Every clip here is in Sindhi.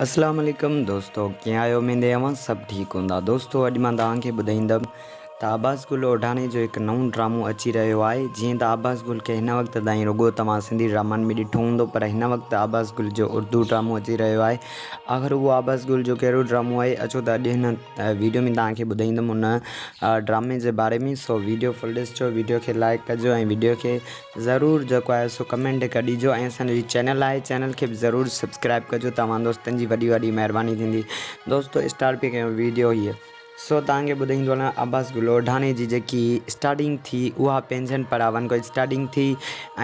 اسلام عليڪم دوستو ڪيئن آهيو اميد اهي اوهان سڀ ٺيڪ هوندا دوستو اڄ مان توهان کي ٻڌائيندم ته عباس گل اوڍاڻي جو هڪ نئون ڊرامو اچي رهيو آهي جيئن ته عباس گل کي هن وقت تائين رڳو توهان سنڌي ڊرامن ۾ ڏٺو هوندو پر هن وقت عباس گل جو اردو ڊرامو اچي رهيو آهي آخر اهو عباس گل جو ڪهڙو ڊرامو آهي اچو ته اڄ هن ويڊيو ۾ توهان کي ٻڌائيندم ان ڊرامي جي باري ۾ سو ويڊيو فل ڏسجو ويڊيو کي لائڪ ڪجو ۽ ويڊيو کي ضرور جيڪو آهي سو ڪمينٽ هڪ ڏيجو ۽ اسان جو هي چينل آهي چينل کي به ضرور سبسڪرائب ڪجو توهان دوستن جي وڏي وڏي مهرباني ٿيندي دوستو اسٽارٽ پي ڪيون ويڊيو هيء سو توهان کي ٻڌائيندو هلان عباس گلوڙاڻي جي جيڪي اسٽارٽنگ ٿي اها پنهنجن پراون کان اسٽارٽنگ ٿي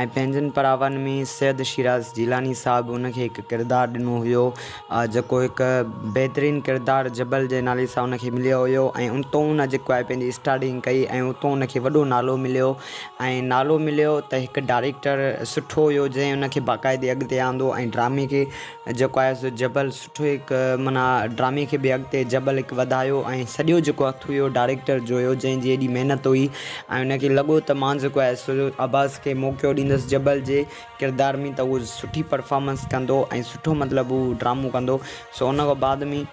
۽ پنهنجن پراون ۾ سيد شيراز جيلاني صاحب ان کي هڪ ڪردار ڏنو هيو جيڪو هڪ بهترين ڪردار جبل جي نالي سان ان کي مليو هيو ۽ اتو ان جيڪو آهي پنهنجي اسٽارٽنگ ڪئي ۽ اتو ان کي وڏو نالو مليو ۽ نالو مليو ته هڪ ڊائريڪٽر سٺو هيو جنهن ان کي باقاعدي اڳتي آندو ۽ ڊرامي کي جيڪو آهي سو جبل سٺو هڪ معنيٰ ڊرامي کي به اڳتي جبل هڪ وڌايو ۽ سڄو جيڪو هٿ هيو ڊائريڪٽر جو هيو جنهن جي ايڏي محنت هئي ۽ ان کي لڳو ته مان جيڪو آهي سو عباس کي موقعو ڏيندس جبل جي ڪردار ۾ ته هو سٺي پرفارمنس ڪندو ۽ سٺو مطلب هو ڊرامو ڪندو سو ان کان بعد ۾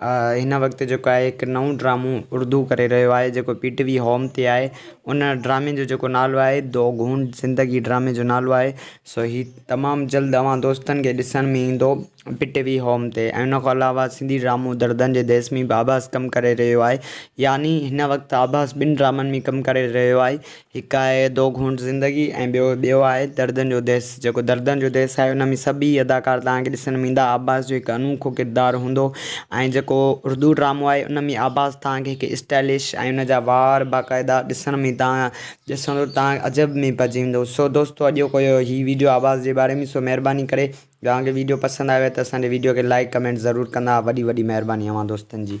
هن وقت جيڪو آهي هڪ نئون ڊرامو اردو ڪري رهيو آهي جيڪو پي ٽي وي هوم تي آهي ان ڊرامي جو جيڪو نالو آهي دو گهونٽ زندگي ڊرامي جو نالو آهي سو هي تمام جلد اوهان دوستن کي ڏسڻ ۾ ايندو پي ٽي وي هوم تي ۽ ان کان علاوه سنڌي ڊرامو دردن جي ديس ۾ به عباس ڪم ڪري رهيو آهي يعني هن وقت عباس ٻن ڊرامن ۾ ڪم ڪري رهيو آهي هڪ آهي دو گهونٽ زندگي ۽ ٻيو ٻيو آهي دردن جو ديس جيڪو دردن جو ديس آهي ان ۾ سڀ ئي اداڪار توهان کي ڏسڻ ۾ ايندا عباس جو هڪ انوکو ڪردار هوندو ۽ جيڪو اردو ڊرامو آهي ان ۾ عباس توهان کي هڪ اسٽائلش ۽ ان جا وار باقاعده ڏسڻ ۾ توهان ڏسندو توهان عجب ۾ پئجي ويندو سو دوستو اڄوڪو اهو هي ويڊيو عباس جي باري ۾ سو مهرباني ڪري توهان کي ويڊيو پسند آيو آهي ته اسان جي ويڊيو کي لائڪ ڪمينٽ ضرور ڪندا وڏي وڏي مهرباني اوهان دوستن جي.